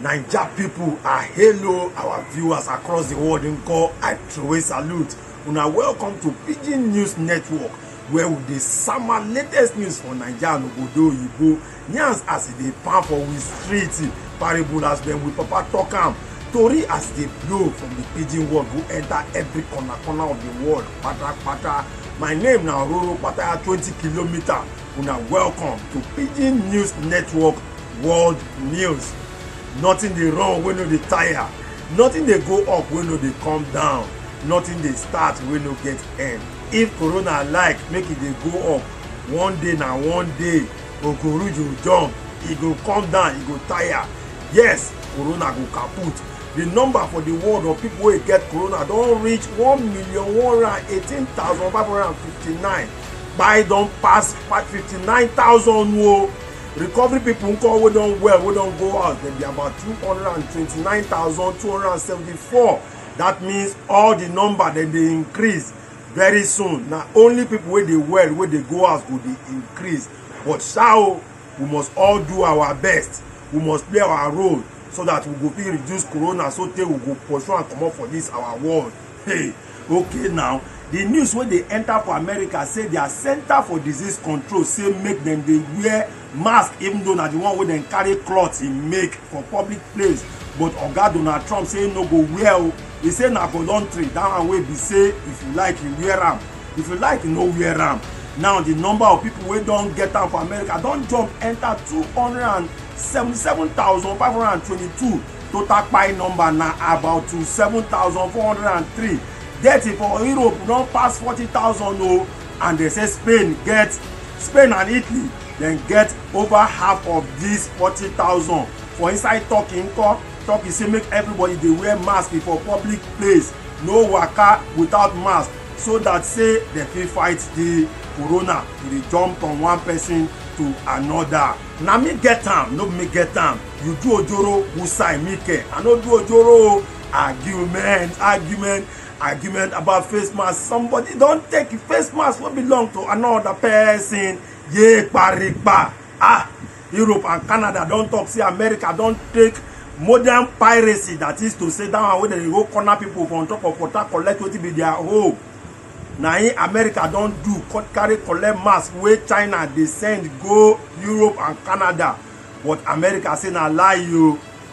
naija pipo i hail our viewers across di world nko i throway salute una welcome to pidgin news network where we dey sama latest news for naija and obodo oyibo Yans as e dey pound for we street, parable as when we papa talk am, tori as e dey blow from the pidgin world go enter every corner corner of the world pata pata. My name na Ororo Pataya 20 kilometer. Una welcome to Pidgin News Network World News. Nothing dey run wey no dey tire, nothing dey go up wey no dey come down, nothing dey start wey no get end. If corona like make e dey go up, one day na one day. Okoruju jump, e go come down, e go tire. Yes, corona go kaput. The number for the world of people wey get corona don reach one million one hundred eighteen thousand five hundred and fifty-nine. Kpai don pass fifty-nine thousand o. Recovery people nko wey don well wey don go house dem be about two hundred and twenty-nine thousand two hundred and seventy-four. That means all the number dem dey increase. very soon na only people wey dey well wey dey go house go dey increase but sha o we must all do our best we must play our role so that we go fit reduce corona so tey we go pursue am comot for this our world hey okay now the news wey dey enter for america say their center for disease control say make dem dey wear mask even though na the one wey dem carry cloth e make for public place but oga donald trump say no go wear o e say na voluntary that one wey be say if you like you wear am if you like you no wear am now the number of people wey don get am for america don jump enter two hundred and seventy-seven thousand five hundred and twenty-two total kpai number na about two seven thousand four hundred and three death for europe don pass forty thousand o and dem say spain get spain and italy dem get over half of dis forty thousand for inside turkey nko turkey say make everybody dey wear mask for public place no waka without mask so that say dem fit fight the corona to dey jump from one person to another. na me get am no be me get am you do ojoro who sign me ke i no do ojoro o argument argument argument about face mask somebody don take face mask wey belong to another person ye paripa ah europe and canada don talk say america don take modern piracy that is to say that one wey dem dey go corner people for on top of water collect wetin be their home na im america don do carry collect mask wey china dey send go europe and canada but america say na lie o.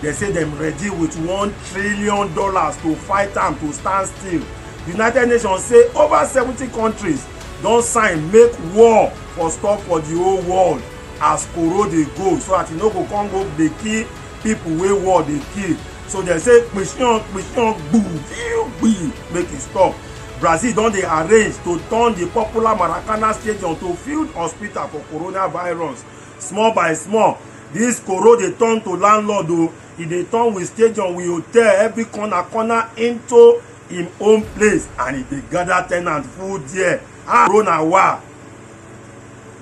Dem say dem ready with one trillion dollars to fight am to stand still. The United Nations say over seventy countries don sign make war for stop for the whole world as koro dey go so that e no go come go dey kill people wey war dey kill. So dem say kpishion kpishion gbu fiu gbi make e stop. Brazil don dey arrange to turn the popular Maracana stadium to field hospital for coronavirus small by small this koro dey turn to landlord o e dey turn with stadium with hotel every corner corner into im own place and e dey gather tenant full there ah koro na wa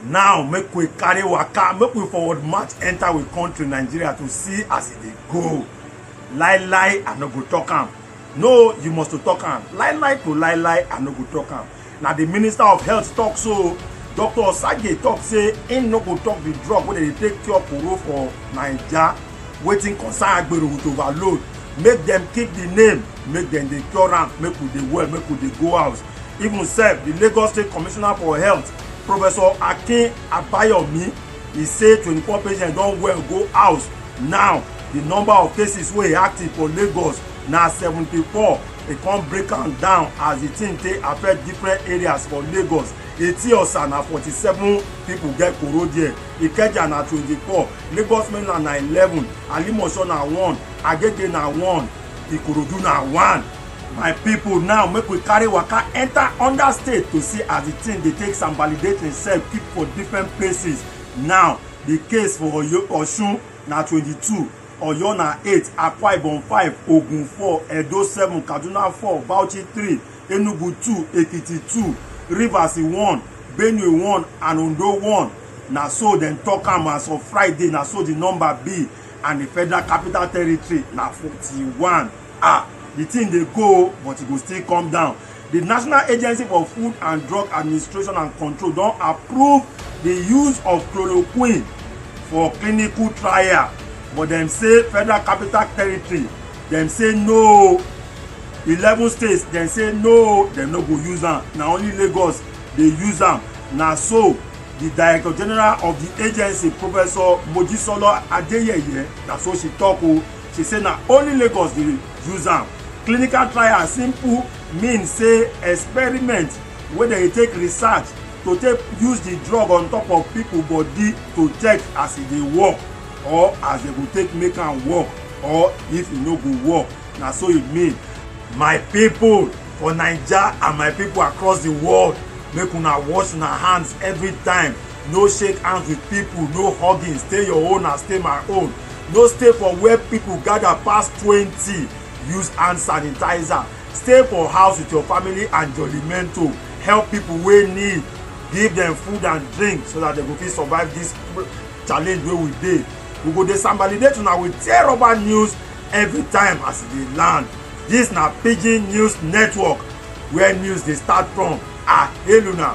now make we carry waka make we forward march enter we country nigeria to see as e dey go lie lie i no go talk am no you must to talk am lie lie to lie lie i no go talk am na di minister of health tok so dr osage tok say im no go tok di drug wey dem dey take cure koro for naija wetin concern agbero with overload make dem keep di name make dem dey cure am make we dey well make we dey go house even sef di lagos state commissioner for health professor akin abayomi e say twenty four patients don well go house now di number of cases wey active for lagos na seventy four e come break am down as the thing take affect different areas for lagos etiosa na forty-seven people get koro there ikeja na twenty-four lagos mainland na eleven alimosho na one agege na one ikorodu na one my people now make we carry waka enter under state to see as the thing dey take some validate himself keep for different places now the case for oyo osun na twenty-two Oyo na eight, Akwa Ibom five, Ogun four, Edo seven, Kaduna four, Bauchi three, Enugu two, Ekiti two, Rivers one, Benue one, and Ondo one. Na so dem talk am as of Friday, na so the number be, and the Federal Capital Territory na forty-one. ah the thing dey go o but e go still come down the national agency for food and drug administration and control don approve the use of chloroquine for clinical trial but dem say federal capital territory dem say no eleven states dem say no dem no go use am na only lagos dey use am na so the director general of the agency professor mojisola adeyeye na so she talk o she say na only lagos dey use am clinical trial simple mean say experiment wey dem dey take research to take use the drug on top of people body to check as e dey work or as dem go take make am work or if e no go work na so e mean my people for naija and my people across the world make una wash una hands every time no shake hands with people no hugging stay your own and stay my own no stay for where people gather pass twenty use hand sanitizer stay for house with your family and jolimento help people wey need give them food and drink so that they go fit survive this challenge wey we dey we go dey sambalidate una with tear rubber news every time as e dey land this na pidgin news network where news dey start from ah hail una